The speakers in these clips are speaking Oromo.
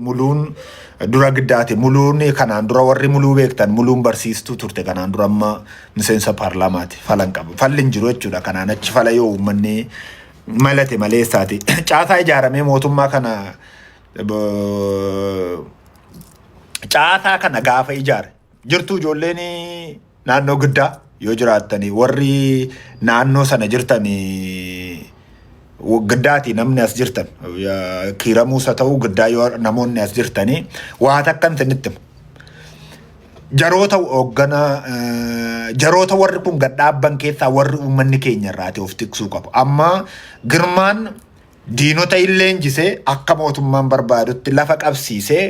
Muluun dura giddaate. Muluun kanaan dura warri muluu beektan muluun barsiistuu turte kanaan dura amma miseensa paarlaamaati. Falan qabu. Falli hin jiru jechuudha. Kanaan achi fala yoo uummanni malate maleessaati. Caasaa ijaaramee mootummaa kana caasaa kana gaafa ijaare. Jirtuu ijoolleen naannoo giddaa yoo jiraattanii warri naannoo sana jirtan giddaati namni as jirtan kiiramuus haa ta'u giddaa yoo namoonni as jirtanii waa takkan isinitti hima. Jaroota hooggana jaroota warri kun gad dhaabban keessaa warri uummanni keenya irraati of tiksuu qabu. Amma girmaan Diinota in leenjise akka mootummaan barbaadutti lafa qabsiisee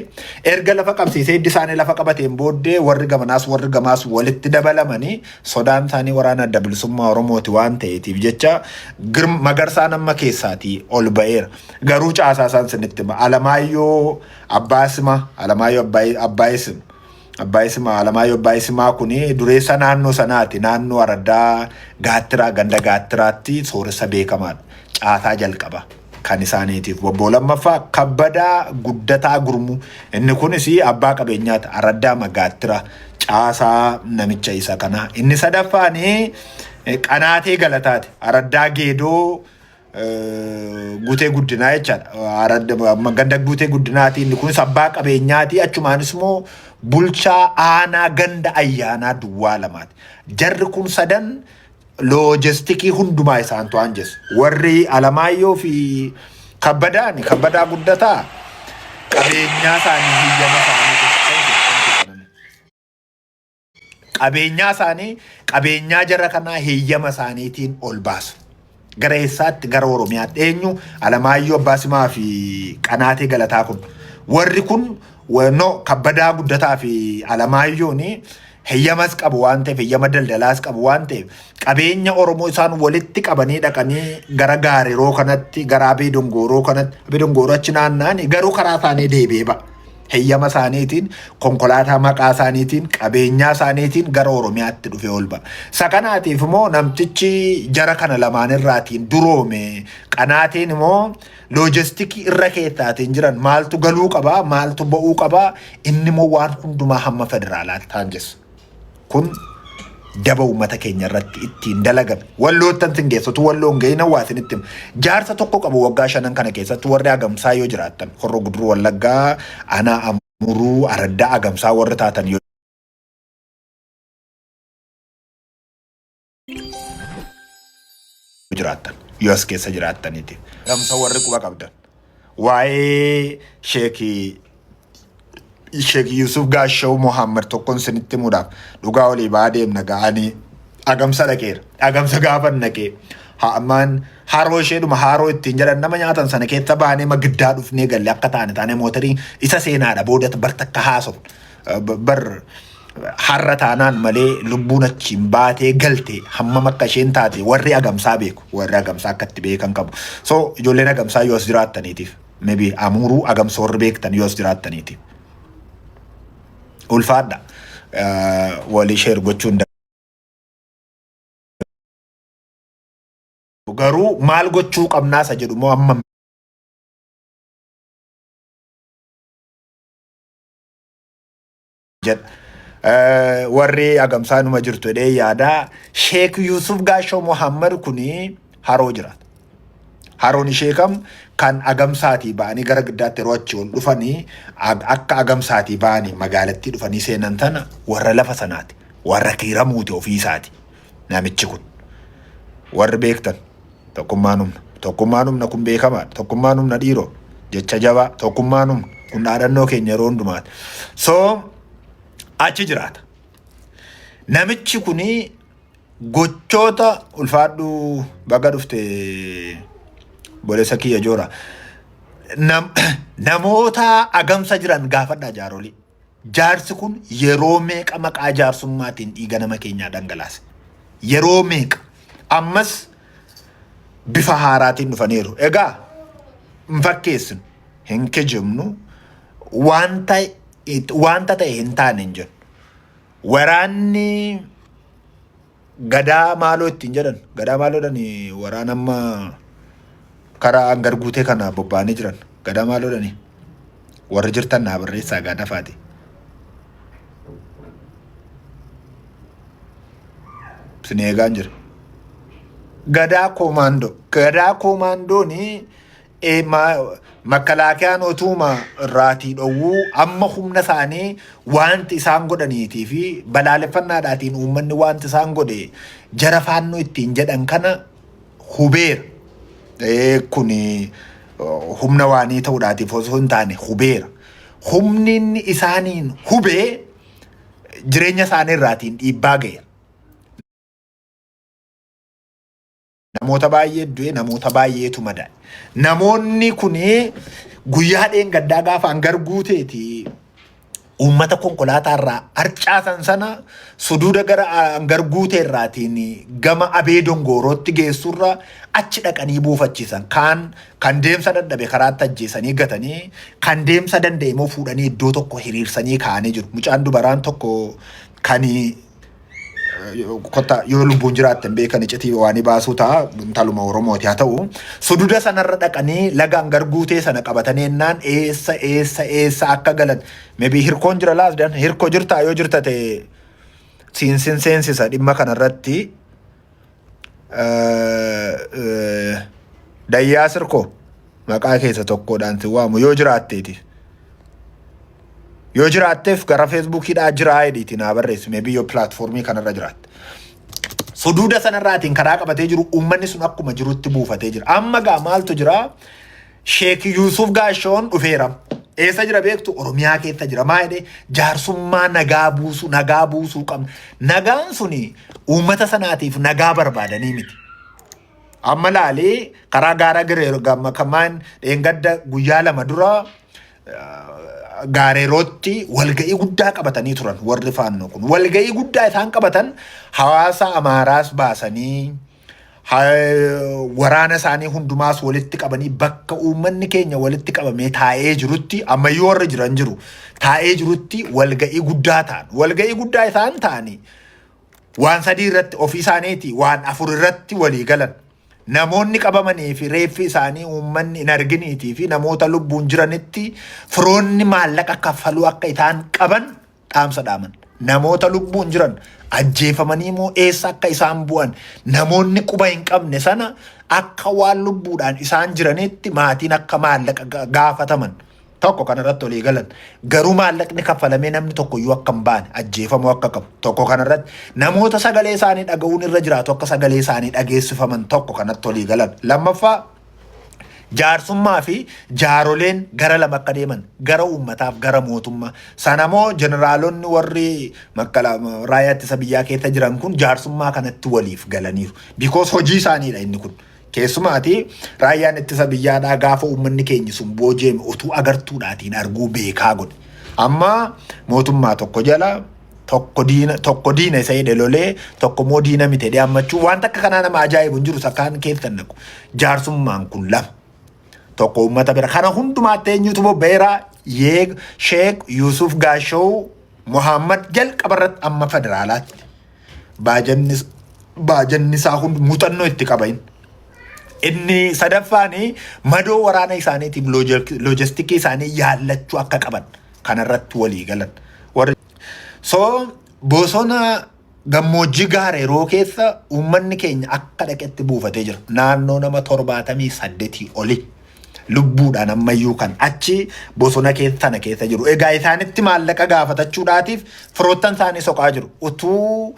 erga lafa qabsiisee hiddi isaanii lafa qabateen booddee warri gamanaas warri gamaas walitti dabalamanii sodaan isaanii waraana adda bilisummaa Oromooti waan ta'eetiif jecha Girm- magarsaan amma keessaatii ol ba'eera. Garuu caasaa isaan sinitti hima. Alamaayyoo Abbaasima, Alamaayyoo Abbaay- Abbaayisim. Abbaa Isimaa, Alamaayyoo Abbaa Isimaa kun dureessa naannoo sanaati. Naannoo araddaa Gaattiraa, ganda Gaattiraatti sooressa beekamaadha. Caasaa jalqaba kan isaaniitiif. Bobboo lammaffaa Kabbadaa Guddataa Gurmuu. Inni kunis abbaa qabeenyaati. Araddaa Magaattira. Caasaa namicha isa kanaa. Inni sadaffaan Qanaatee Galataati. Araddaa Geedoo Guutee guddinaa jechaadha. Ganda guutee guddinaati inni kunis abbaa qabeenyaati achumaanis immoo bulchaa aanaa ganda ayyaanaa duwwaa lamaati. Jarri kun sadan loojistikii hundumaa isaan to'an jeessa. Warri Alamaayyoo fi Kabbadaan kabbadaa guddataa qabeenyaa isaanii hiyyama isaanii qabeenyaa isaanii qabeenyaa jara kanaa heeyyama isaaniitiin ol baasu. Gara eessaatti gara Oromiyaatti eenyu Alamaayyoo Abbaa Simaa fi Qanaatee Galataa kun. Warri kun wa- no, kabbadaa guddataa fi Alamaayyoon heeyyamas qabu waan ta'eef heeyyama daldalaas qabu waan ta'eef qabeenya Oromoo isaan walitti qabanii dhaqanii gara Gaareroo kanatti gara Abee Dongooroo kanatti Abee Dongooroo achi naanna'anii garuu karaa isaanii deebi'ee ba'a. heyyama isaaniitiin konkolaataa maqaa isaaniitiin qabeenyaa isaaniitiin gara Oromiyaatti dhufee ol ba'a. Isa kanaatiif immoo namtichi jara kana lamaan irraatiin duroome qanaatiin immoo loojistikii irra keessaatiin jiran maaltu galuu qabaa maaltu ba'uu qabaa inni immoo waan hundumaa hamma federaalaatti taanjessa. Kun daba uummata keenya irratti ittiin dalagame. Walloottan sin geessotu walloo hin gahina waa isinitti hima. Jaarsa tokko qabu waggaa shanan kana keessatti warri agamsaa yoo jiraattan horro guduruu wallaggaa anaa amuruu araddaa agamsaa warri taatan yoo jiraattan yoo as keessa jiraattaniiti. Dhamsa warri quba qabdan. Waa'ee sheekii Sheek Yuusuf Gaashaw Mohaammed tokkon isinitti himuudhaaf dhugaa olii ba'aa deemna ga'anii agamsa dhaqeera. Agamsa gaafa dhaqee haamaan haroo isheedhuma haroo ittiin jedhan nama nyaatan sana keessa baanee magiddaa dhufnee galle akka taane taane mootarii isa seenaadha booda bartakka haasofna. Bar har'a taanaan malee lubbuun achiin baatee galte hammam akka isheen taate warri agamsaa beeku. Warri agamsaa akka itti beekan qabu. So ijoolleen agamsaa yoo as jiraattaniitiif maybe amuuruu agamsa warri beektan yoo as jiraattaniitiif. Ulfaadha. Walii sheer gochuun garuu maal gochuu qabnaa isa jedhu moo amma jedha. Eh, Warri agamsaa numa jirtu jedhee yaada. Sheek Yuusuf Gaashoo Muhammad kuni haroo jiraata. Haroon ishee kam kan agamsaatii ba'anii gara giddaatti yeroo achi ol dhufanii ag- akka agamsaatii ba'anii magaalattii dhufanii seenan tana warra lafa sanaati. Warra kiiramuuti ofii isaati. Namichi kun. Warri beektan. Tokkummaan humna! Tokkummaan humna! Kun beekamaadha. Tokkummaan humna dhiiroo! Jecha jabaa! Tokkummaan humna! Kun dhaadannoo keenya yeroo hundumaati. So achi jiraata. Namichi kun gochoota ulfaadhuu baga dhufte boleessa kiyya joora. Nam- namoota agamsa jiran gaafadhaa jaarolii. Jaarsi kun yeroo meeqa maqaa jaarsummaatiin dhiiga nama keenyaa dhangalaase? Yeroo meeqa? Ammas bifa haaraatiin dhufaniiru. Egaa hin fakkeessinu, hin kijibnu, wanta wanta ta'e hin taane hin jennu. Waraanni Gadaa maaloo ittiin jedhan. Gadaa maaloodhan waraan amma karaa hangar guutee kana bobba'anii jiran. Gadaa maaloodhan warri jirtan naa barreessaa gaa dafaati. Isin eegaan jira. Gadaa koomaandoo. Gadaa koomaandoon Eh, ma- makkalaakiyaan otuuma irraatii dhowwuu amma humna isaanii wanti isaan godhaniitii fi balaaleffannaadhaatiin uummanni wanti isaan godhe jara faannoo ittiin jedhan kana hubeera. Eh, Kuni oh, humna waanii ta'uudhaatiif osoo hin taane hubeera. Humni inni isaaniin hubee jireenya isaanii irraatiin dhiibbaa ga'eera. Namoota baay'ee du'e, namoota baay'eetu madaa'e. Namoonni kun guyyaa dheengaddaa gaafa hangar guuteeti uummata konkolaataa irraa harcaasan sana suduuda gara hangar guutee irraatiin gama abee dongoorootti geessurra achi dhaqanii buufachiisan. Kaan kan deemsa dadhabe karaatti ajjeesanii gatanii kan deemsa danda'e immoo fuudhanii iddoo tokko hiriirsanii kaa'anii jiru. Mucaan dubaraan tokko kan kotta yoo lubbuun jiraatte hin beekan icitii waanii baasuu ta'a intaluma Oromooti haa ta'u sududa sanarra dhaqanii lagaan garguutee sana qabatanii ennaan eessa eessa eessa akka galan mebii hirkoon jira laasdan hirko jirtaa yoo jirta ta'e siinsin seensisa dhimma kanarratti Dayyaa sirkoo maqaa keessa tokkodhaan si waamu yoo jiraatteeti. Yoo jiraatteef gara feesbuukiidhaa jiraa jedhiiti naa barreessi meebii yoo pilaatfoormii kanarra jiraatte. Suduuda sanarraatiin karaa qabatee jiru uummanni sun akkuma jirutti buufatee jira. Amma gaa maaltu jiraa? Sheek Yuusuf Gaashawoon dhufeera. Eessa jira beektu? Oromiyaa keessa jira. Maa jedhee jaarsummaa nagaa buusu, nagaa buusuu qabna. Nagaan suni uummata sanaatiif nagaa barbaadanii miti. Amma laalee karaa gaara Gireeroo gamma kamaan dheengadda guyyaa lama dura gaareerootti walga'ii guddaa qabatanii turan warri faannoo kun. Walga'ii guddaa isaan qabatan hawaasa Amaaraas baasanii waraana isaanii hundumaas walitti qabanii bakka uummanni keenya walitti qabamee taa'ee jirutti ammayyuu warra jiran jiru taa'ee jirutti walga'ii guddaa ta'an walga'ii guddaa isaan ta'anii waan sadii irratti ofii isaaniiti waan afur irratti walii galan namoonni qabamanii fi reeffi isaanii uummanni hin arginiitii fi namoota lubbuun jiranitti firoonni maallaqa kaffaluu akka isaan qaban dhaamsa dhaaman. Namoota lubbuun jiran ajjeefamanii moo eessa akka isaan bu'an namoonni quba hin qabne sana akka waan lubbuudhaan isaan jiranitti maatiin akka maallaqa ga- gaafataman tokko kanarratti olii galan garuu maallaqni kaffalamee namni tokko iyyuu akka hin baane ajjeefamuu akka qabu tokko kanarratti namoota sagalee isaanii dhaga'uun irra jiraatu akka sagalee isaanii dhageessifaman tokko kanatti olii galan lammaffaa jaarsummaa fi jaaroleen gara lama akka deeman gara uummataaf gara mootummaa sana moo jeneraalonni warri makkala raayyaa ittisa biyyaa keessa jiran kun jaarsummaa kanatti waliif galaniiru bikoos hojii isaaniidha inni kun keessumaati raayyaan ittisa biyyaadhaa gaafa uummanni keenya sun booji'ame utuu agartuudhaatiin arguu beekaa godhe amma mootummaa tokko jala tokko diina tokko diina isa jedhe lolee tokko immoo diina miti jedhee ammachuu waan takka kanaa nama ajaa'ibu hin jiru sakaan keessa hin naqu jaarsummaan kun lama tokko uummata bira kana hundumaatti eenyutu bobba'eera yeeg sheek yuusuf gaashow muhammad jalqaba irratti amma federaalaatti baajanni baajanni isaa hundi muuxannoo itti qabain. Inni sadaffaan madoo waraana isaaniitiif loojistikii isaanii yaallachuu akka qaban kanarratti walii galan. Warri so bosona gammoojjii gaara yeroo keessa uummanni keenya akka dhaqetti buufatee jira. Naannoo nama torbaatamii saddetii oli lubbuudhaan ammayyuu kan achi bosona keessa sana keessa jiru. Egaa isaanitti maallaqa gaafatachuudhaatiif firoottan isaanii soqaa jiru. Utuu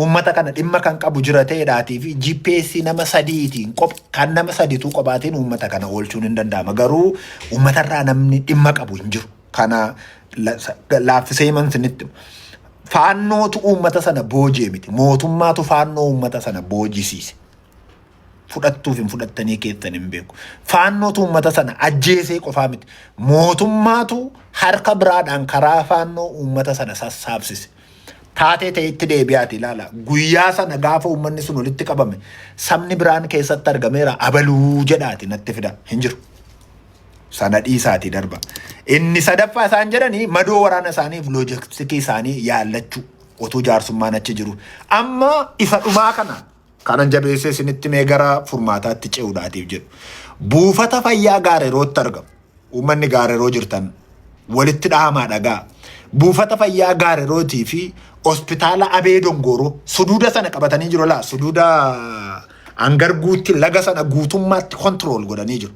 uummata kana dhimma kan qabu jira ta'eedhaatii fi GPS nama sadiitiin qoph kan nama sadiituu qophaatiin uummata kana oolchuun hin danda'ama garuu uummatarraa namni dhimma qabu hin jiru kana la- sa- laaffisee himan sinitti faannootu uummata sana boojee miti mootummaatu faannoo uummata sana boojisiise fudhattuuf hin fudhattanii keessan hin beeku faannootu uummata sana ajjeesee qofaa miti mootummaatu harka biraadhaan karaa faannoo uummata sana sassaabsise taatee ta'etti deebi'aati ilaala. Guyyaa sana gaafa uummanni sun walitti qabame sabni biraan keessatti argameera abaluu jedhaati natti fida hin jiru. Sana dhiisaati darba. Inni sadaffaa isaan jedhani madoo waraana isaaniif loojistikii isaanii yaallachuu otuu jaarsummaan achi jiru. Amma isa dhumaa kana Kanan jabeessee isinitti mee gara furmaataatti ce'uudhaatiif jedhu. Buufata fayyaa gaarerootti argamu. Uummanni gaareroo jirtan walitti dhahamaa dhagaa. Buufata fayyaa gaarerootii fi hospitaala Abee Dongooroo suduuda sana qabatanii jiru laa suduuda hangarguutti laga sana guutummaatti kontirool godhanii jiru.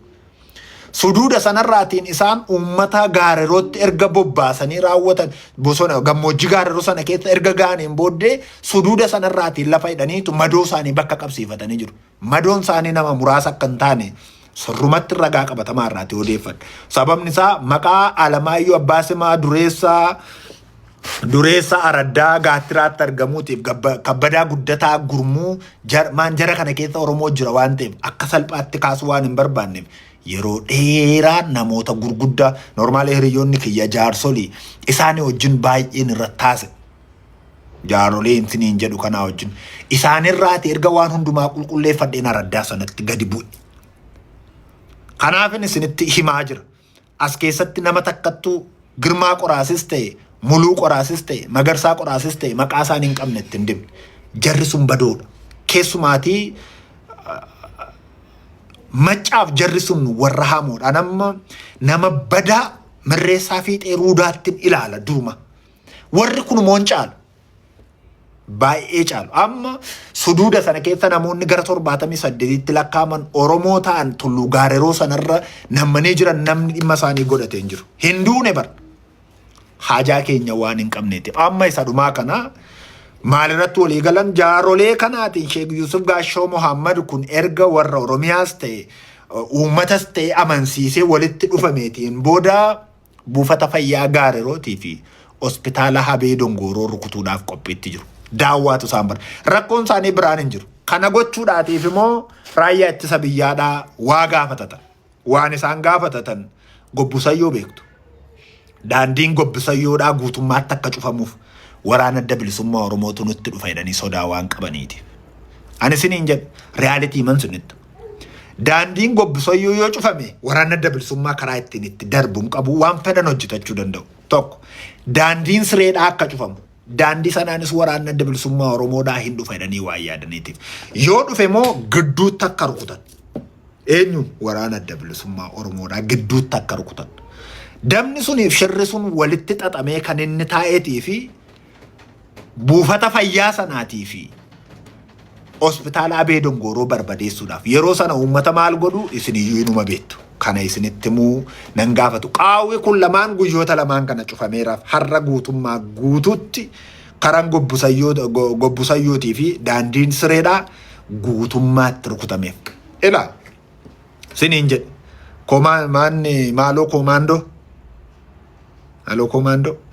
Suduuda sanarraatiin isaan uummataa gaarerootti erga bobbaasanii raawwatan bosona gammoojjii gaareroo sana keessa erga ga'aniin booddee suduuda sanarraatiin lafa hidhaniitu madoo isaanii bakka qabsiifatanii jiru. Madoon isaanii nama muraasa akka hin taane sirrumatti ragaa qabatamaa irraati odeeffadha. Sababni isaa maqaa Alamaayyoo Abbaa Simaa Dureessaa dureessa araddaa gaattiraatti argamuutiif gabba- kabbadaa guddataa gurmuu jarmaan jara kana keessa oromoo jira waan ta'eef akka salphaatti kaasuu waan hin barbaanneef yeroo dheeraa namoota gurguddaa normaalee hiriyoonni kiyya jaarsolii isaanii wajjin baay'een irratti taase jaarolee intiniin jedhu kanaa wajjin isaanirraati erga waan hundumaa qulqulleeffadheen araddaa sanatti gadi bu'e kanaafin isinitti himaa jira As keessatti nama takkattuu Girmaa Qoraasis ta'e, Muluu Qoraasis ta'e, Magarsaa Qoraasis ta'e maqaa isaan hin qabne itti hin dibne. Jarri sun badoodha. Keessumaatii maccaaf jarri sun warra hamoodha. Nama, nama badaa mirreessaa fiixee ruudaattin ilaala duruma. Warri kun immoo hin caalu. baay'ee caalu. Amma suduuda sana keessa namoonni gara torbaatamii saddeetitti lakkaa'aman Oromoo ta'an tulluu gaareroo sanarra nammanii jiran namni dhimma isaanii godhatee hin jiru. Hin duune bar. Haajaa keenya waan hin qabneeti. Amma isa dhumaa kana maalirratti walii galan jaarolee kanaatiin Sheek Yuusuf Gaashoo Mohaammed kun erga warra Oromiyaas ta'e uummatas ta'e amansiisee walitti dhufameetiin booda Buufata fayyaa Gaarerootii fi Hospitaala Habee Dongooroo rukutuudhaaf qophiitti jiru. Daawwaatu isaan bara. Rakkoon isaanii biraan hin jiru. Kana gochuudhaatiif immoo raayyaa ittisa biyyaadhaa waa gaafatatan. Waan isaan gaafatatan gobbusayyoo beektu. Daandiin gobbisayyoodhaa guutummaatti akka cufamuuf waraana adda bilisummaa Oromootu nutti dhufa jedhanii sodaa waan qabaniiti. Ani isiniin jedhe riyaalitii man sunitti Daandiin gobbisoyyuu yoo cufame waraanni adda bilisummaa karaa ittiin itti darbu hin qabu waan fedhan hojjetachuu danda'u. Tokko daandiin sireedhaa akka cufamu daandii sanaanis waraanni adda bilisummaa Oromoodhaa hin dhufa jedhanii waan yaadaniitiif. Yoo dhufe immoo gidduutti akka rukutan. Eenyuun waraana adda bilisummaa Oromoodhaa gidduutti akka rukutan. Dabni suniif shirri sun walitti xaxamee kan inni taa'eetii fi buufata fayyaa sanaatii fi hospitaala Abee Dongooroo barbadeessuudhaaf yeroo sana uummata maal godhu isin iyyuu inuma beektu. Kana isinitti immoo nan gaafatu. Qaawwi kun lamaan guyyoota lamaan kana cufameeraaf har'a guutummaa guutuutti karaan gobbusayyootii fi daandiin sireedhaa guutummaatti rukutameef. Ilaa siniin jedhe koomaa maanni maaloo koomaandoo maaloo koomaandoo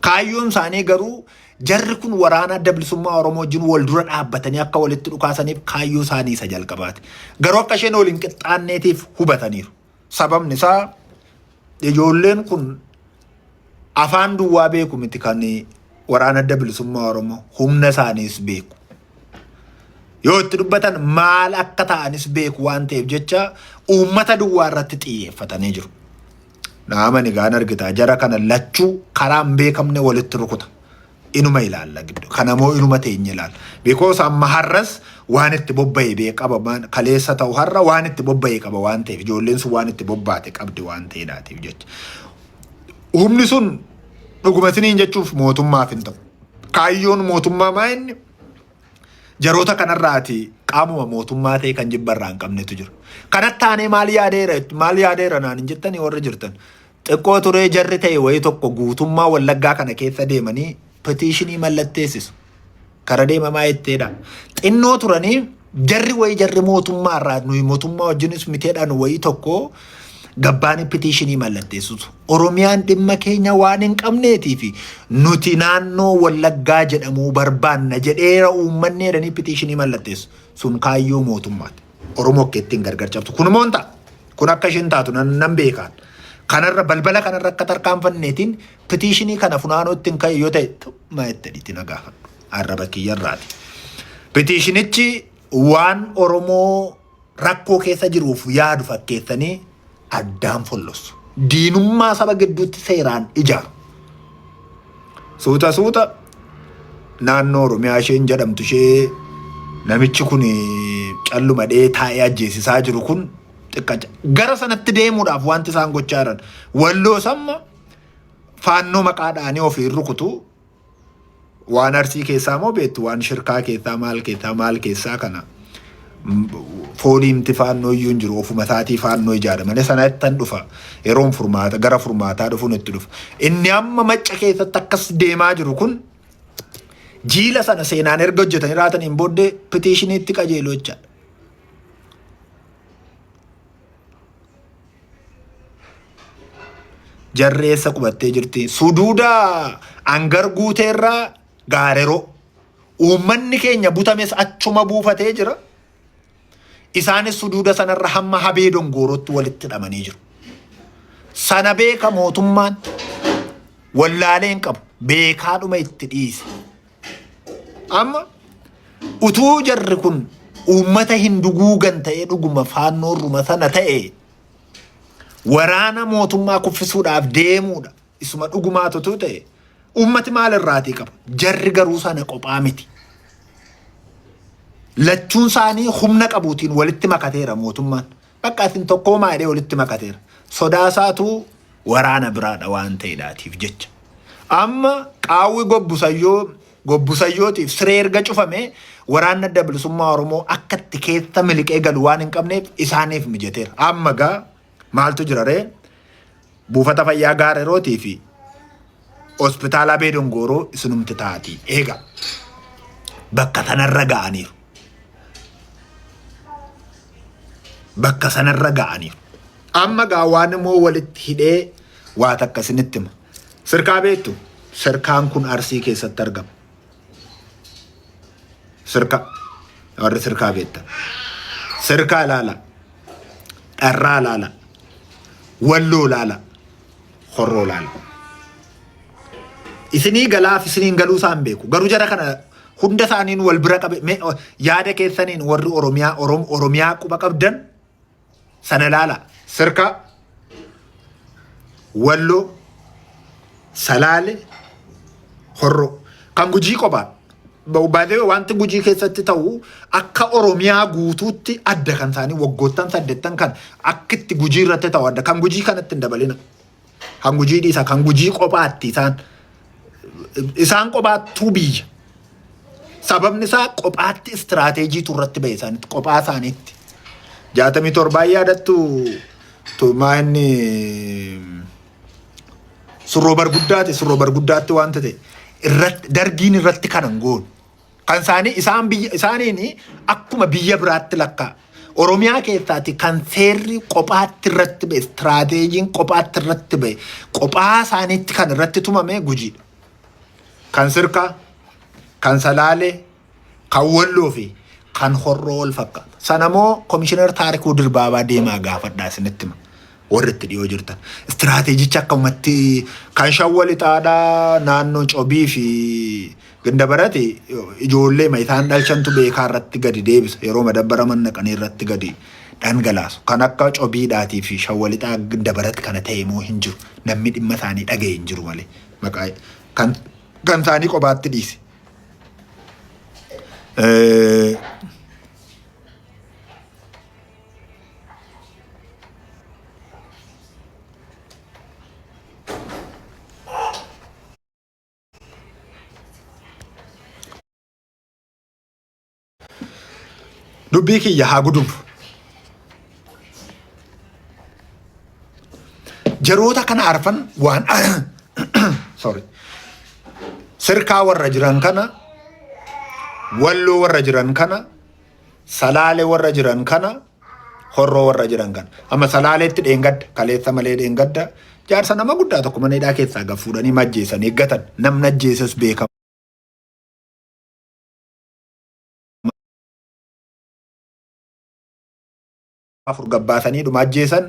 Kaayyoon isaanii garuu jarri kun waraana adda bilisummaa Oromoo wajjin wal dura dhaabbatanii akka walitti dhukaasaniif kaayyoo isaanii isa jalqabaati. Garuu akka isheen waliin qixxaanneetiif hubataniiru. Sababni isaa ijoolleen kun afaan duwwaa beeku miti kan waraana adda bilisummaa Oromoo humna isaaniis beeku. Yoo itti dubbatan maal akka ta'anis beeku waan ta'eef jecha uummata duwwaa irratti xiyyeeffatanii jiru. Dhahaman egaa hin argitaa jara kana lachuu karaa hin beekamne walitti rukuta. Inuma ilaalla giddu. Kana moo inuma teenye ilaalla. Because amma har'as waan itti bobba'e bee qaba maan- kaleessa ta'u har'a waan itti bobba'e qaba waan ta'eef ijoolleen sun waan itti bobbaate qabdi waan ta'eedhaatiif jecha. Humni sun dhuguma isiniin jechuuf mootummaaf hin ta'u. Kaayyoon mootummaa maa inni jaroota kanarraati qaamuma mootummaa ta'e kan jibba irraa hin qabnetu jira. Kanatti taanee maal yaadeera maal yaadeera naan hin jettanii warri jirtan. Xiqqoo turee jarri ta'e wayii tokko guutummaa wallaggaa kana keessa deemanii petiishinii mallatteessisu. Kara deemamaa jetteedha. Xinnoo turanii jarri wayii jarri mootummaa irraa nuyi mootummaa wajjinis miteedhaan wayii tokko Gabbaanii pitiishinii mallatteessus Oromiyaan dhimma keenya waan hin qabneetii fi nuti naannoo Wallaggaa jedhamuu barbaanna jedheera uummanni jedhanii pitiishinii mallatteessu. Sun kaayyoo mootummaati. Oromoo akka ittiin gargar cabsu. Kun immoo hin ta'a. Kun akka isheen taatu nan, nan beekaan. Kanarra balbala kanarra akka tarkaanfanneetiin pitiishinii kana funaanoo ittiin ka'e yoo ta'e maa itti na gaafadhu. Arraba kiyyarraati. Pitiishinichi waan Oromoo rakkoo keessa jiruuf yaadu fakkeessanii addaan follossu. Diinummaa saba gidduutti seeraan ijaaru. Suuta suuta naannoo Oromiyaa isheen jedhamtu ishee namichi kun calluma dhee taa'ee ajjeesisaa jiru kun xiqqa gara sanatti deemuudhaaf wanti isaan gochaa jiran walloo samma faannoo maqaadhaanii ofiin rukutu Waan arsii keessaa moo beektu waan shirkaa keessaa maal keessaa maal keessaa kana fooliimti faannoo iyyuu hin jiru ofuma isaatii faannoo ijaara malee sana ittan dhufa yeroon furmaata gara furmaataa dhufuun itti dhufa inni amma macca keessatti akkas deemaa jiru kun jiila sana seenaan erga hojjetanii raataniin booddee pitiishiniitti qajeelu jechaadha. Jarri eessa qubattee jirti? Suduuda hangar guuteerraa gaareroo. Uummanni keenya butames achuma buufatee jira. Isaanis suduuda sanarra hamma habee dongoorootti walitti hidhamanii jiru. Sana beeka mootummaan wallaalee hin qabu. Beekaadhuma itti dhiise. Amma utuu jarri kun uummata hin duguugan ta'ee dhuguma faannoorruma sana ta'e waraana mootummaa kuffisuudhaaf deemuudha. Isuma dhugumaatu utuu ta'e uummati maal irraatii qaba? Jarri garuu sana qophaa miti. Lachuun isaanii humna qabuutiin walitti makateera mootummaan. Bakka isin tokkoomaa jedhee walitti makateera. Sodaa isaatu waraana biraadha waan ta'edhaatiif jecha. Amma qaawwi gobbusayyoo gobbusayyootiif siree erga cufame waraanni adda bilisummaa Oromoo akka itti keessa miliqee galu waan hin qabneef isaaniif mijateera. Amma gaa maaltu jira ree? Buufata fayyaa Gaarerootii fi hospitaala Abee Dongooroo isinumti taatii eega bakka sanarra ga'aniiru. Bakka sanarra ga'aniiru. Amma gaa waan immoo walitti hidhee waa takka isinitti hima. Sirkaa beektu? Sirkaan kun Arsii keessatti argama. Sirkaa. Warri sirkaa beektan. Sirkaa ilaala. Dharraa ilaala. Walloo ilaala. Horroo ilaala. Isinii galaaf isiniin galuu isaan beeku. Garuu jara kana hunda isaaniin wal bira qabe yaada keessaniin warri Oromiyaa Oromiyaa quba qabdan sana ilaalaa sirkaa walloo salaale horroo kan gujii qophaa baay'ee wanti gujii keessatti ta'u akka oromiyaa guutuutti adda kan isaanii waggoottan saddeettan kan akka itti gujii irratti ta'u adda kan gujii kanatti hin dabalina. Kan gujii dhiisa kan gujii qophaatti isaan isaan qophaattuu biyya. Sababni isaa qophaatti istiraateejiitu irratti ba'e isaanitti qophaa isaaniitti. Jaatamii torbaan yaadattu tumaa inni surroo barguddaati surroo barguddaatti wanta ta'e irratti dargiin irratti kanan goonu. Kan isaanii isaan biyya isaaniin akkuma biyya biraatti lakkaa. Oromiyaa keessaati kan seerri qophaatti irratti ba'e, istiraateejiin qophaatti irratti ba'e, qophaa isaaniitti kan irratti tumame gujiidha. Kan sirkaa, kan salaalee, kan walloo fi kan horroo wal fakkaata. Sanamoo komishinar Taarikuu Dirbaabaa deemaa gaafadhaa isinitti hima. Warri itti dhiyoo jirtan istiraateejichi akkamumatti kan shawwa lixaadhaa naannoo cobii fi gindabarati ijoollee ma isaan dhalchantu beekaa irratti gadi deebisa yeroo madabbara mannaqanii irratti gadi dhangalaasu kan akka cobiidhaatii fi shawwa lixaa gindabarati kana ta'e moo hin jiru namni dhimma isaanii dhaga'e hin jiru malee maqaa kan kan isaanii qobaatti dhiise. Eh, dubbii kiyya haa gudubu. Jaroota kana arfan waan sorry sirkaa warra jiran kana walloo warra jiran kana salaale warra jiran kana horroo warra jiran kana amma salaaleetti dheengadda kaleessa malee dheengadda jaarsa nama guddaa tokko mana hidhaa keessaa gad fuudhanii majjeessan eeggatan namni ajjeesas beekama. afur gabbaasanii dhuma ajjeesan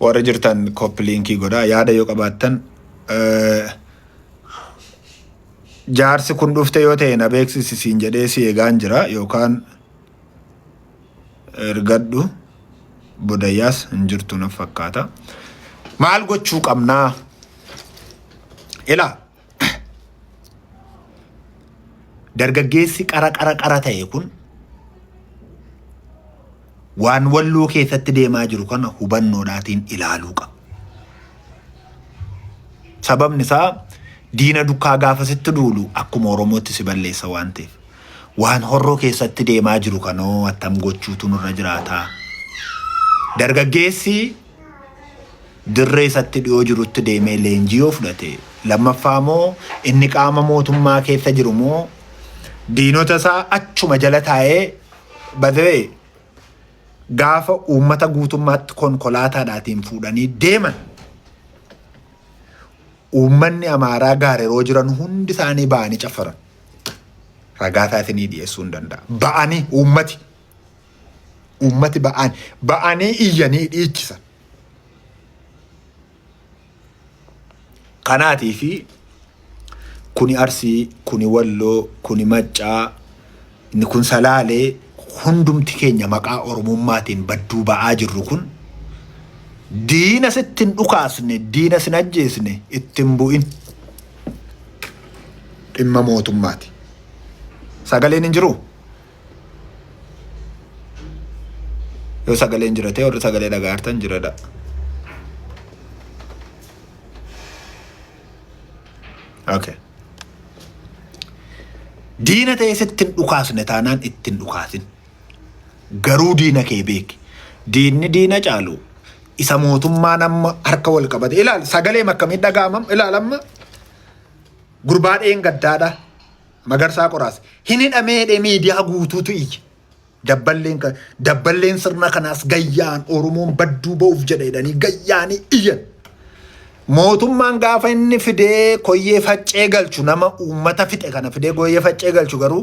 warra jirtan kooppi liinkii godhaa yaada yoo qabaattan eh, jaarsi kun dhufte yoo ta'e na beeksisi siin jedhee si eegaan jira yookaan ergadhu bodayyaas hin jirtu naf fakkaata maal gochuu qabnaa ilaa Dargaggeessi qara qara qara ta'e kun waan walloo keessatti deemaa jiru kana hubannoodhaatiin ilaaluu qaba. Sababni isaa diina dukkaa gaafa sitti duulu akkuma Oromootti si balleessa waan ta'eef. Waan horroo keessatti deemaa jiru kanoo attam gochuutu nurra jiraataa. Dargaggeessi dirree isatti dhiyoo jirutti deemee leenjii yoo fudhate lammaffaa moo inni qaama mootummaa keessa jiru moo diinota isaa achuma jala taa'ee badawee gaafa uummata guutummaatti konkolaataadhaatiin fuudhanii deeman uummanni amaaraa gaareroo jiran hundi isaanii ba'anii caffaran ragaa isaa isinii dhiyeessuu hin danda'a ba'anii uummati Uummati ba'aan ba'anii iyyanii dhiichisan. Kanaatii fi kuni Arsii, kuni Walloo, kuni Maccaa, inni kun Salaalee hundumti keenya maqaa Oromummaatiin badduu ba'aa jirru kun diina sitti hin dhukaasne, diina sin ajjeesne itti hin bu'in. Dhimma mootummaati. Sagaleen hin jiruu? yoo sagaleen jira ta'e warri sagalee dhagaartan jiradha okay diina ta'e sitti hin dhukaasne taanaan itti hin dhukaasin garuu diina kee beeki diinni diina caalu isa mootummaan amma harka wal qabate ilaal sagalee akkamii dhagaamam ilaal amma gurbaa dheen gaddaadha Magarsaa Qoraas hin hidhamee jedhee miidiyaa guutuutu iyye. Dabballeen ka- dabballeen sirna kanaas gayyaan Oromoon badduu ba'uuf jedha jedhanii gayyaanii iyyan. Mootummaan gaafa inni fidee koyyee faccee galchu nama uummata fixe kana fidee koyyee faccee galchu garuu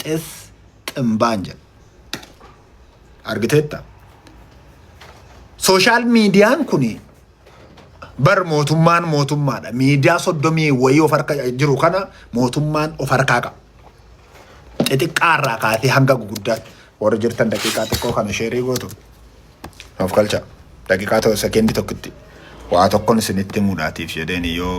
xis ximbaan jedha. Argiteetta? Sooshaal miidiyaan kuni Bar mootummaan mootummaadha. Miidiyaa soddomii wayii of harka jiru kana mootummaan of harkaa qaba. Xixiqqaa irraa kaasee hanga guguddaatti warri jirtan daqiiqaa xiqqoo kana sheerii gootu. Of galcha. Daqiiqaa tokko sekeendii tokkotti waa tokkon isinitti muudhaatiif jedheen yoo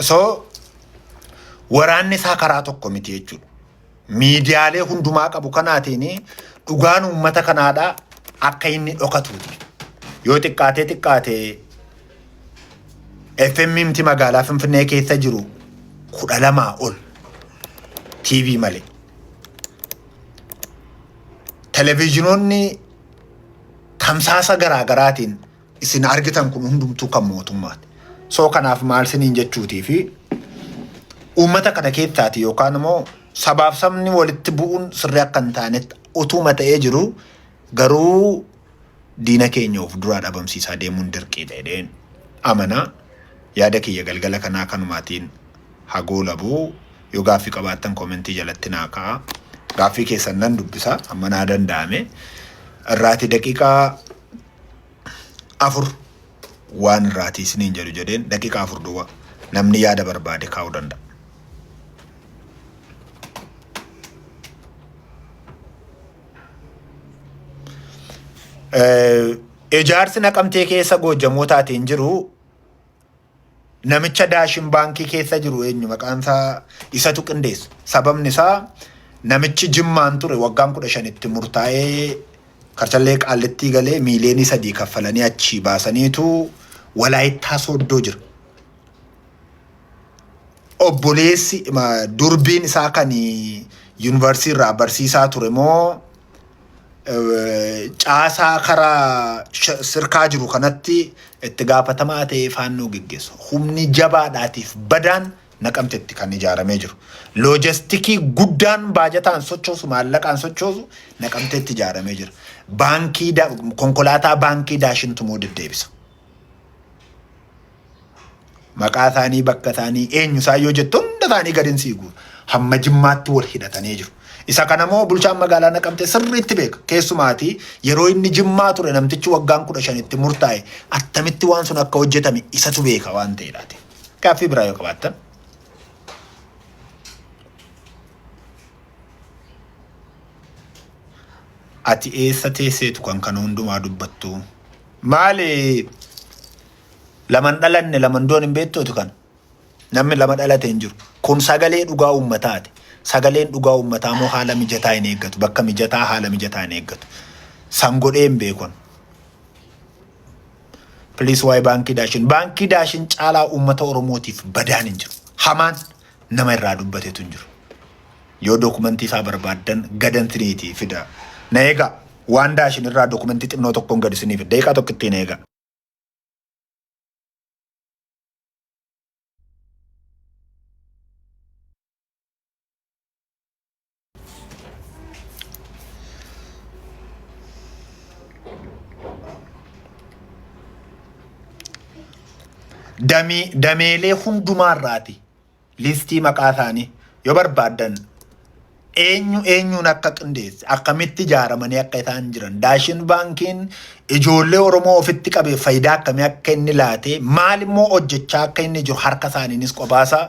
So waraanni isaa karaa tokko miti jechuudha. Miidiyaalee hundumaa qabu kanaatiin dhugaan uummata kanaadhaa akka inni dhokatuuti. Yoo xiqqaatee xiqqaatee FMMT magaalaa Finfinnee keessa jiru kudha lamaa ol TV malee. Televiizhinoonni tamsaasa garaa garaatiin isin argitan kun hundumtuu kan mootummaati. Soo kanaaf maal siniin jechuutii fi uummata kana keessaati yookaan immoo sabaaf sabni walitti bu'uun sirrii akka hin taanetti utuuma ta'ee jiru Garuu diina keenya of duraa dhabamsiisaa deemuun dirqiidha jedheen amana. Yaada kiyya galgala kanaa kanumaatiin haa goolabu. Yoo gaaffii qabaattan koomentii jalatti naa kaa'a. Gaaffii keessan nan dubbisa amma naa danda'ame. Irraati daqiiqaa afur waan irraati isiniin jedhu jedheen daqiiqaa afur duwwa namni yaada barbaade kaa'uu danda'a. Eh, Ijaarsi naqamtee keessa goojjamootaatiin jiru namicha daashin baankii keessa jiru eenyu maqaan isaa isatu qindeessa. Sababni isaa namichi jimmaan ture waggaan kudha shanitti murtaa'ee karchallee qaallittii galee miiliyoonii sadii kaffalanii achii baasaniitu walaayittaa sooddoo jira. obboleessi ma- durbiin isaa kan yuunivarsiitii irraa barsiisaa ture moo eh, caasaa karaa sh- sirkaa jiru kanatti itti gaafatamaa ta'ee faannoo geggeessu. Humni jabaadhaatiif badaan naqamtetti kan ijaaramee jiru. Loojistikii guddaan baajataan sochoosu maallaqaan sochoosu naqamtetti ijaaramee jira. Baankii da- konkolaataa baankii daashintu moo deddeebisa. Maqaa isaanii, bakka isaanii, eenyu isaan yoo jettu hunda isaanii gadin sii guura. Hamma jimmaatti wal hidhatanii jiru. Isa kana moo bulchaan magaalaa naqamtee sirriitti beeka. Keessumaati yeroo inni jimmaa ture namtichi waggaan kudha shanitti murtaa'e attamitti waan sun akka hojjetame isatu beeka waan ta'eedhaati. Gaaffii biraa yoo qabaattan. Ati eessa teesseetu kan kana hundumaa dubbattu? Maali Laman dhalanne laman du'an hin beektooti kana. Namni lama dhalate hin jiru. Kun sagalee dhugaa uummataati. Sagaleen dhugaa uummataa immoo haala mijataa hin eeggatu. Bakka mijataa haala mijataa hin eeggatu. San godhee hin beekon. Please waa'ee baankii daashin. Baankii daashin caalaa uummata Oromootiif badaan hin jiru. Hamaan nama irraa dubbatetu hin jiru. Yoo dokumentii isaa barbaaddan gadan siniitii fida. Na eegaa waan daashin irraa dokumentii xinnoo tokkoon gad isiniif daqiiqaa tokkittiin eegaa. damee dameelee hundumaarraati. Listii maqaa isaanii yoo barbaaddan eenyu eenyuun akka qindeesse akkamitti ijaaramanii akka isaan jiran daashin baankiin ijoollee Oromoo ofitti qabee faayidaa akkamii akka inni laatee maal immoo hojjechaa akka inni jiru harka isaaniinis qophaasa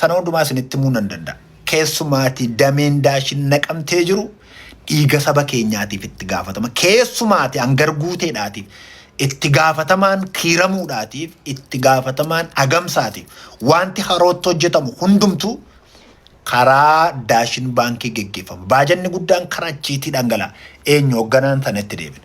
sana hundumaa isinitti himuu nan danda'a. Keessumaatii dameen daashin naqamtee jiru dhiiga saba keenyaatiif itti gaafatama. Keessumaatii hangar guuteedhaatiif itti gaafatamaan kiiramuudhaatiif, itti gaafatamaan agamsaatiif waanti harootti hojjetamu hundumtuu karaa Daashin Baankii geggeeffama. Baajanni guddaan karaa achiitii dhangala'a. Eenyu hogganaan sana itti deebina.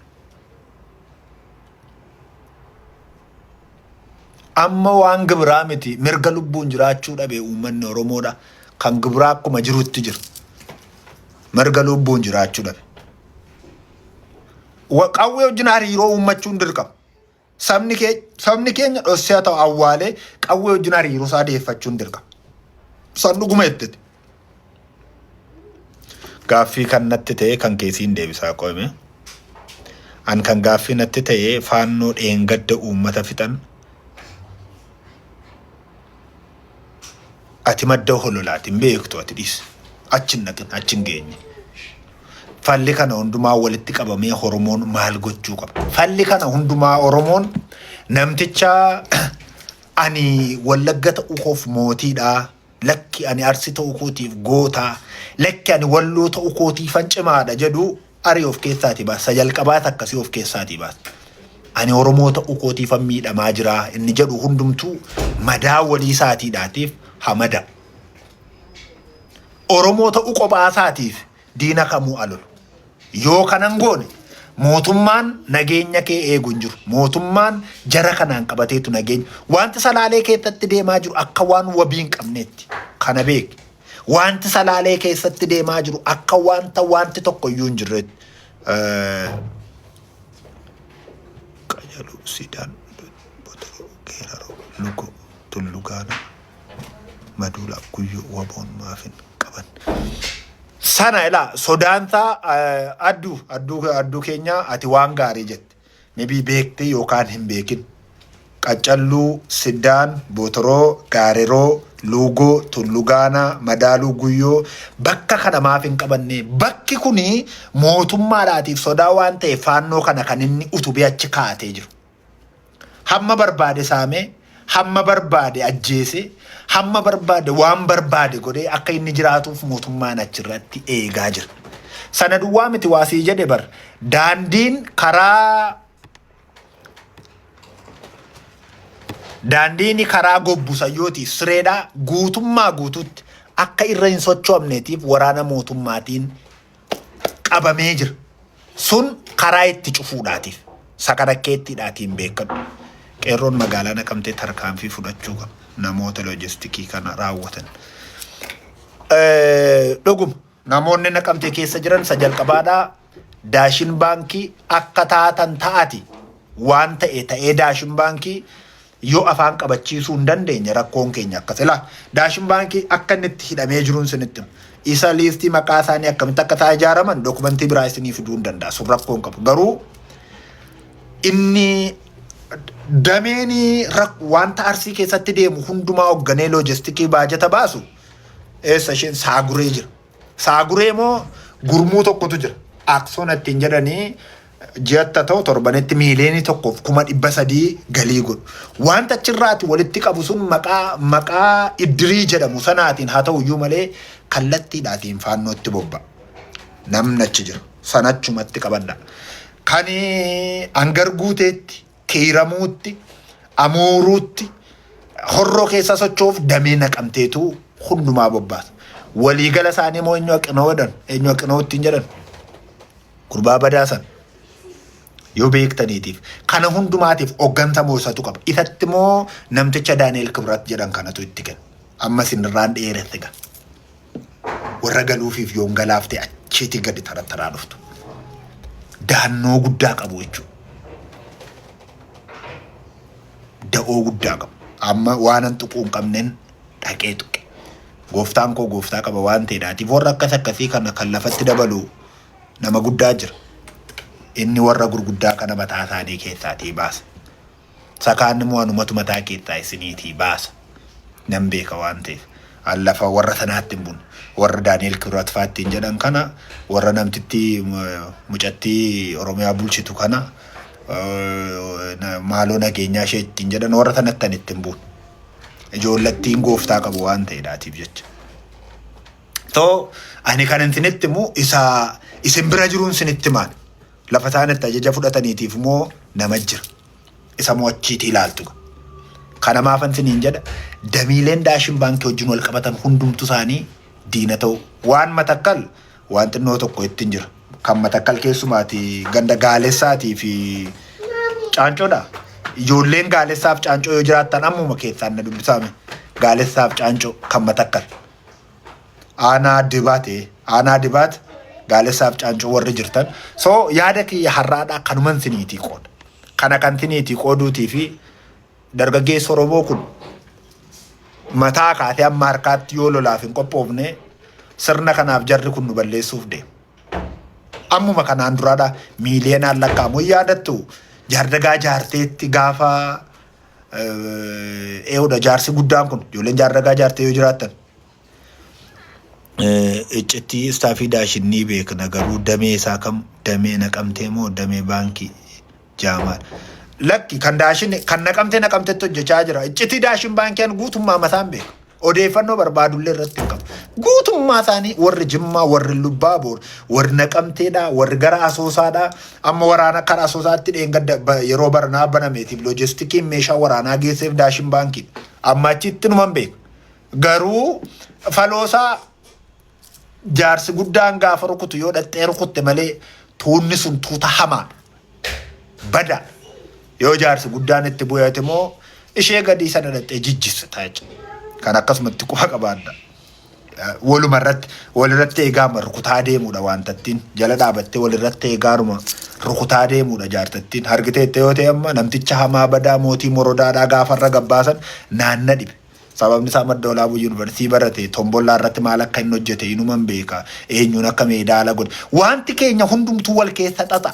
Amma waan gibiraa miti mirga lubbuun jiraachuu dhabe uummanni Oromoodha. Kan gibiraa akkuma jirutti jira. Mirga lubbuun jiraachuu dhabe. Wa- Qawwee wajjin hariiroo uummachuun dirqama. Sabni kee- sabni keenya dhossee haa ta'u awwaalee qawwee wajjin hariiroo isaa deeffachuun dirqama. San dhuguma jetteti. Gaaffii kan natti ta'e kan keessiin deebisaa qo'ime. An kan gaaffii natti ta'e faannoo dheengadda uummata fixan Ati madda hololaati hin beektu ati dhiis. Achi hin dhaqin achi hin geenye. Falli kana hundumaa walitti qabamee Oromoon maal gochuu qaba? Falli kana hundumaa Oromoon namticha ani wallagga ta'uu koof mootiidha. Lakki ani arsi ta'uu kootiif goota. Lakki ani walloo ta'uu kootiifan cimaadha jedhu Arii of keessaatii baas. Isa jalqabaa isa akkasii of keessaatii baas. Ani Oromoo ta'uu kootiifan miidhamaa jira inni jedhu hundumtuu madaa walii isaatiidhaatiif ha mada'u. Oromoo ta'uu kophaa isaatiif diina kamuu alolu. Yoo kanan goone mootummaan nageenya kee eegu hin jiru. Mootummaan jara kanaan qabateetu nageenya. Wanti salaalee keessatti deemaa jiru akka waan wabii hin qabneetti. Kana beeki. Wanti Salaalee keessatti deemaa jiru akka wanta wanti tokko iyyuu hin jirreetti. Qajaluu, Siidaan, Botoroo, Geeraroo, Lugoo, Tullu Gaanaa, Maduulaa, Guyyoo, Waboon maaf hin qaban. Sana ilaa sodaansaa adduu adduu adduu keenyaa ati waan gaarii jette. Maybe beektee yookaan hin beekin. Qaccalluu, Siddaan, Bootoroo, Gaareroo, Luugoo, Tullu Gaanaa, Madaaluu Guyyoo bakka kana maaf hin qabannee? Bakki kuni mootummaadhaatiif sodaa waan ta'eef faannoo kana kan inni utubee achi kaa'atee jiru. Hamma barbaade saamee hamma barbaade ajjeesee hamma barbaade waan barbaade godhee akka inni jiraatuuf mootummaan achirratti eegaa jira. Sana duwwaa miti waa sii jedhe bar daandiin karaa daandiin karaa gobbu sayyootiif sireedhaa guutummaa guutuutti akka irra hin sochoomneetiif waraana mootummaatiin qabamee jira. Sun karaa itti cufuudhaatiif sakanakkeettiidhaatiin beekadhu. Qeerroon magaalaa naqamtee tarkaanfii fudhachuu qaba. Namoota loojistikii kana raawwatan. Dhuguma namoonni naqamtee keessa jiran isa jalqabaadhaa daashin baankii akka taatan ta'ati waan ta'e ta'ee daashin baankii yoo afaan qabachiisuu hin dandeenye rakkoon keenya akkas ilaa daashin baankii akka inni itti hidhamee jiruun sinitti hima. Isa liistii maqaa isaanii akkamitti akka isaa ijaaraman dokumentii biraa isinii fiduu hin danda'a sun rakkoo hin qabu garuu inni dameen rak- wanta arsii keessatti deemu hundumaa hoogganee loojistikii baajata baasu eessa isheen saaguree jira. Saaguree moo gurmuu tokkotu jira. Aksona ittiin jedhanii ji'atta ta'u torbanetti miiliyoonii tokkoof kuma dhibba sadii galii godhu. Wanta achirraati walitti qabu sun maqaa maqaa iddirii jedhamu sanaatiin haa ta'u iyyuu malee kallattiidhaatiin faannootti bobba'a. Namni achi jiru sana achumatti qabadha. Kan hangar guuteetti Kiiramuutti, Amuuruutti, Horroo keessa socho'uuf damee naqamteetu hundumaa bobbaasa. Waliigala isaanii immoo eenyu haqinoo jedhan, eenyu haqinoo ittiin jedhan. Gurbaa badaa sana yoo beektaniitiif kana hundumaatiif hogganta moo isatu qaba. Isatti moo namticha Daani'el Kibrat jedhan kanatu itti kenna. Amma isinirraan dheeresse gaa. warra galuufiif yoon galaafte achiitii gadi tarattaraa dhuftu. Daannoo guddaa qabu jechuudha. Da'oo guddaa qabu. Amma waanan tuquu hin qabneen dhaqee tuqe. Gooftaan koo gooftaa qaba waan ta'eedhaatiif warra akkas akkasii kana kan lafatti dabalu nama guddaa jira. Inni warra gurguddaa kana mataa isaanii keessaatii baasa. Sakaan immoo anumatu mataa keessaa isiniitii baasa. Nan beeka waan ta'eef. An lafa warra sanaatti hin bune. Warra Daani'el Kibrat fa'aa ittiin jedhan kana, warra namtitti mucattii Oromiyaa bulchitu kana, maaloo nageenyaa ishee ittiin jedhan warra sanatti an ittiin bune. Ijoollattiin gooftaa qabu waan ta'eedhaatiif jecha. Too ani kan isinitti immoo isa isin bira jiruun isinitti himaan. Lafa isaan itti ajaja fudhataniitiif moo nama jira. Isa moo achiitii ilaaltu. Kana maafan isiniin jedha damiileen daashin baankii wajjin wal qabatan hundumtu isaanii diina ta'u. Waan matakkal waan xinnoo tokko ittiin jira. Kan matakkal keessumaati ganda gaalessaatii fi caancoodha. Ijoolleen gaalessaaf caancoo yoo jiraattan ammuma keessaan na dubbisaame. Gaalessaaf caancoo kan matakkal. aanaa dibaat ee aanaa dibaat gaalessaaf caancuu warri jirtan so yaada kiyya har'aadhaa kanuman siniitii qooda kana kan siniitii qooduutii fi dargaggeessi oromoo kun mataa kaatee amma harkaatti yoo lolaaf hin qophoofne sirna kanaaf jarri kun nu balleessuuf deema. Ammuma kanaan duraadha miiliyoonaan lakkaa'amu yaadattu jaardagaa jaarteetti gaafa eewudha jaarsi guddaan kun ijoolleen jaarragaa jaartee yoo jiraattan iccitti istaafii daashin ni beekna garuu damee isaa kam damee naqamtee moo damee baankii jaamaa lakki kan daashin kan naqamtee naqamtetti hojjechaa jira iccitii daashin baankiin guutummaa mataan beeka Odeeffannoo barbaadullee irratti hin qabu. Guutummaa isaanii warri Jimmaa, warri Lubbaa Boor, warri Naqamteedhaa, warri gara Asoosaadhaa, amma waraana karaa Asoosaatti dheengadda ba- yeroo baranaa banameetiif loojistikiin meeshaa waraanaa geesseef daashin baankiidha. Amma achitti numan beeka. Garuu faloosaa Jaarsi guddaan gaafa rukutu yoo dhaxxee rukutte malee tuunni sun tuuta hamaadha. Bada. Yoo jaarsi guddaan itti bu'eeti moo ishee gadii sana dhaxxee jijjisse taayichi. Kan akkasumatti quba qabaadha. Waluma irratti walirratti eegaama rukutaa deemuudha wantattiin jala dhaabattee walirratti eegaaruma rukutaa deemuudha jaartattiin hargiteette yoo ta'e amma namticha hamaa badaa mootii morodaadhaa gaafarra gabbaasan naanna dhibe. Sababni isaa Madda Olaabuu Yunivarsiitii barate, Tombollaa irratti maal akka inni hojjete inuman beeka, eenyuun akka meedaala godhe. Waanti keenya hundumtuu wal keessa xaxa.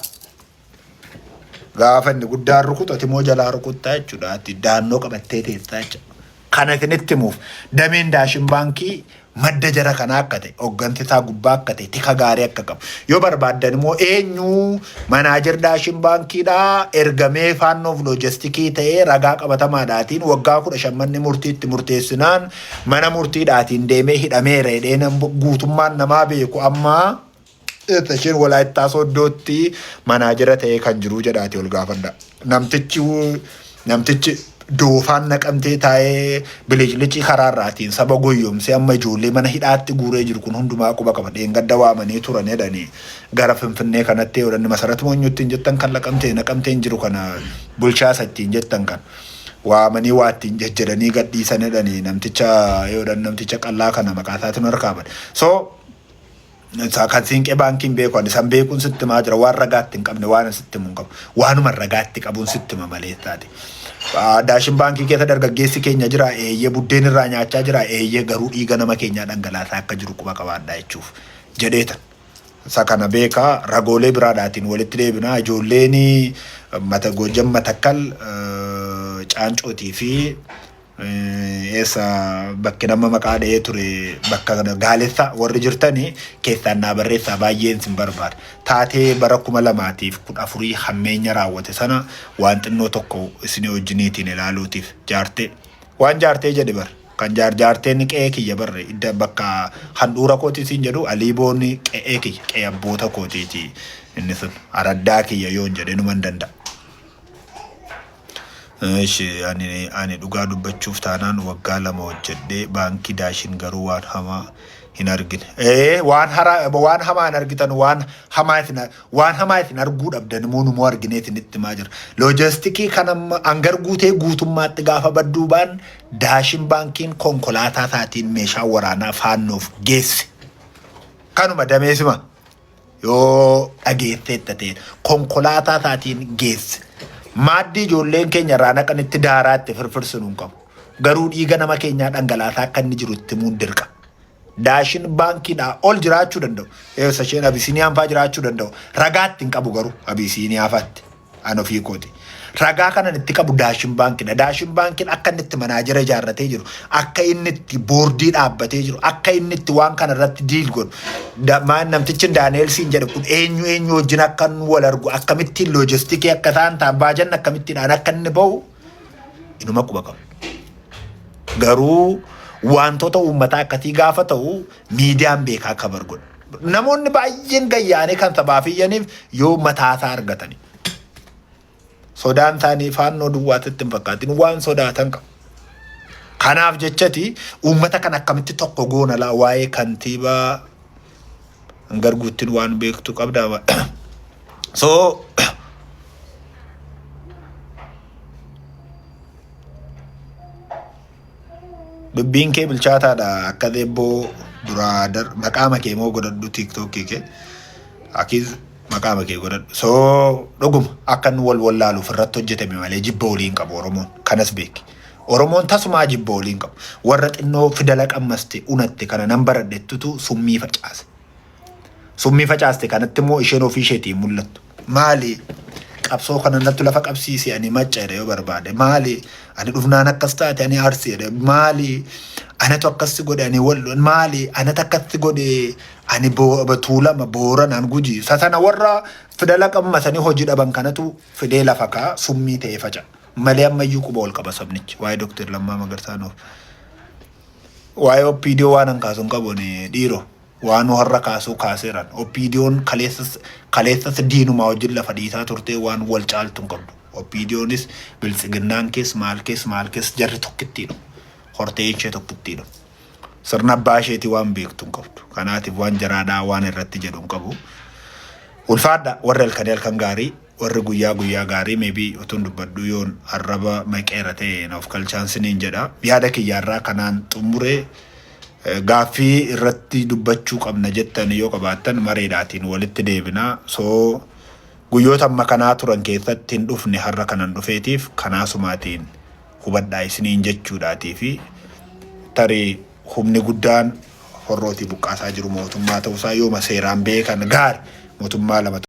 Gaafa inni guddaan rukutu ati immoo jalaa rukuttaa jechuudha. Ati daannoo qabattee teessaa jechuudha. Kana isinitti himuuf dameen Daashin Baankii madda jara kanaa akka ta'e, hoggansi isaa gubbaa akka ta'e, tika gaarii akka qabu. Yoo barbaaddan immoo eenyu manaajer Daashin Baankiidhaa ergamee faannoof loojistikii ta'ee ragaa qabatamaadhaatiin waggaa kudha shan manni murtiitti murteessinaan mana murtiidhaatiin deemee hidhameera jedhee guutummaan namaa beeku ammaa Isteeshin Walaayittaa Sooddootti manaajera ta'ee kan jiru jedhaati ol gaafadha. Namtichi namtichi doofaan naqamtee taa'ee biliclicii karaa irraatiin saba goyyomsee amma ijoollee mana hidhaatti guuree jiru kun hundumaa quba qaba. Dheengadda waamanii turan jedhanii gara Finfinnee kanatti odhanni masarat moonyuu ittiin jettan kan laqamtee naqamteen jiru kana bulchaa isa ittiin jettan kan waamanii waa ittiin jejjedhanii gadhiisan jedhanii namticha yoodhan namticha qallaa kana maqaa isaatiin harkaa bade. So Isaa kan siinqee baankii hin beeku ani san beekuun sitti himaa jira waan ragaatti hin qabne waan ani sitti himu hin qabu waanuma ragaatti qabuun sitti hima maleessaati. Ah, Daashin baankii keessa dargaggeessi keenya jira eeyyee buddeen irraa nyaachaa jira eeyyee garuu dhiiga nama keenyaa dhangalaasaa akka jiru quba qabaadhaa jechuuf jedheetan. Isa kana beekaa ragoolee biraadhaatiin walitti deebinaa ijoolleen mata goojjan matakkal eh, caancootii fi Eessa bakki nama maqaa dha'ee ture bakka kana gaalessa warri jirtani keessaan naa barreessaa baay'een sin barbaada. Taatee bara kuma lamaatiif kudha afurii hammeenya raawwate sana waan xinnoo tokko isinii wajjiniitiin ilaaluutiif jaartee waan jaartee jedhe bar kan jaar jaarteen qe'ee kiyya barre idda bakka handhuura kooti siin jedhu aliiboon qe'ee kiyya qe'ee abboota kootiiti inni sun araddaa kiyya yoon jedhe numan danda'a. Eshi ani ani dhugaa dubbachuuf taanaan waggaa lama hojjedhee baankii daashin garuu waan hamaa hin argine. Ee waan hara waan hamaa hin argitan waan hamaa isin waan hamaa isin arguu dhabdan immoo numoo arginee isinitti himaa jira. Loojistikii kan amma hangar guutee guutummaatti gaafa badduu baan daashin baankiin konkolaataa isaatiin meeshaa waraanaa faannoof geesse. Kanuma dameesima. Yoo dhageesseetta ta'e konkolaataa isaatiin geesse. Maaddii ijoolleen keenya irraa naqanitti daaraa itti firfirsinu hin qabu. Garuu dhiiga nama keenyaa dhangalaasaa akka inni jiru itti himuun dirqa. Daashin baankiidhaa ol jiraachuu danda'u. Eessa isheen Abisiiniyaan fa'aa jiraachuu danda'u. Ragaatti hin qabu garuu Abisiiniyaa fa'aatti. An ofii kooti. Ragaa kanan itti qabu Daashin Baankidha. Daashin Baankiin akka inni itti manaajera ijaarratee jiru, akka inni itti boordii dhaabbatee jiru, akka inni itti waan kana irratti diil godhu, da- maan namtichin Daani'eel siin jedhe kun eenyu eenyu wajjin akka inni wal argu, akkamittiin loojistikii akka isaan ta'an, baajanni akkamittiidhaan akka inni ba'u inuma quba qabu. Garuu wantoota uummataa akkasii gaafa ta'u Miidiyaan beekaa kabar godha. Namoonni baay'een gayyaanee kan sabaaf iyyaniif yoo mataasaa argatani. Sodaan isaanii faannoo duwwaatitti hin fakkaatin waan sodaatan qabu. Kanaaf jechati uummata kan akkamitti tokko goonalaa waa'ee kantiibaa garguuttiin waan beektu qabda. So Dubbiin kee bilchaataadha akka deebboo duraa dar maqaama kee moo godhadhu tiiktookii kee akiis maqaama kee godhadhu soo dhuguma akka nu wal wallaaluuf irratti hojjetame malee jibba olii hin qabu oromoon kanas beeki oromoon tasumaa jibba olii hin qabu warra xinnoo fidala qammaste unatte kana nan baradhettutu summii facaase Summii facaaste kanatti immoo isheen ofii isheetii hin mul'attu. Maali qabsoo kana nattu lafa qabsiise ani macca jedhe yoo barbaade maali ani dhufnaan akkas taate ani arsi jedhe maali anatu akkassi godhe ani wallo maali anatu akkassi godhe ani Bo- batuulama booranaan guji isa sana warra fidala qabmasanii hojii dhaban kanatu fidee lafa kaa summii ta'ee faca malee ammayyuu quba ol qaba sabnichi waa'ee Dr. Lammaa Magarsaa nuuf waa'ee OPDO waan hankaasu hin qabu ani dhiiroo. Waanoo har'a kaasuu kaaseeran. OPDOn kaleessas kaleessas diinumaa wajjin lafa dhiitaa turtee waan wal caaltu hin qabdu. OPDOnis Biltsiginnaan kees maal kees maal kees jarri tokkittiidhuma. Hortee ishee tokkittiidhuma. Sirna abbaa isheetii waan beektu hin qabdu. Kanaatiif waan jaraadhaa waan irratti jedhu hin qabu. Ulfaadhaa warri halkanii halkan gaarii. Warri guyyaa guyyaa gaarii maybe utuun dubbadhuu yoon arraba maqeera ta'e na of kalchaan siniin jedha. Yaada kiyya har'aa kanaan xummure. Gaaffii irratti dubbachuu qabna jettan yoo qabaattan mareedhaatiin walitti deebina. So guyyoota amma kanaa turan keessatti hin dhufne har'a kanan dhufeetiif kanaasumaatiin hubadhaa isiniin jechuudhaatii fi tarii humni guddaan horrootii buqqaasaa jiru mootummaa ta'uusaa yooma seeraan beekan gaari mootummaa lama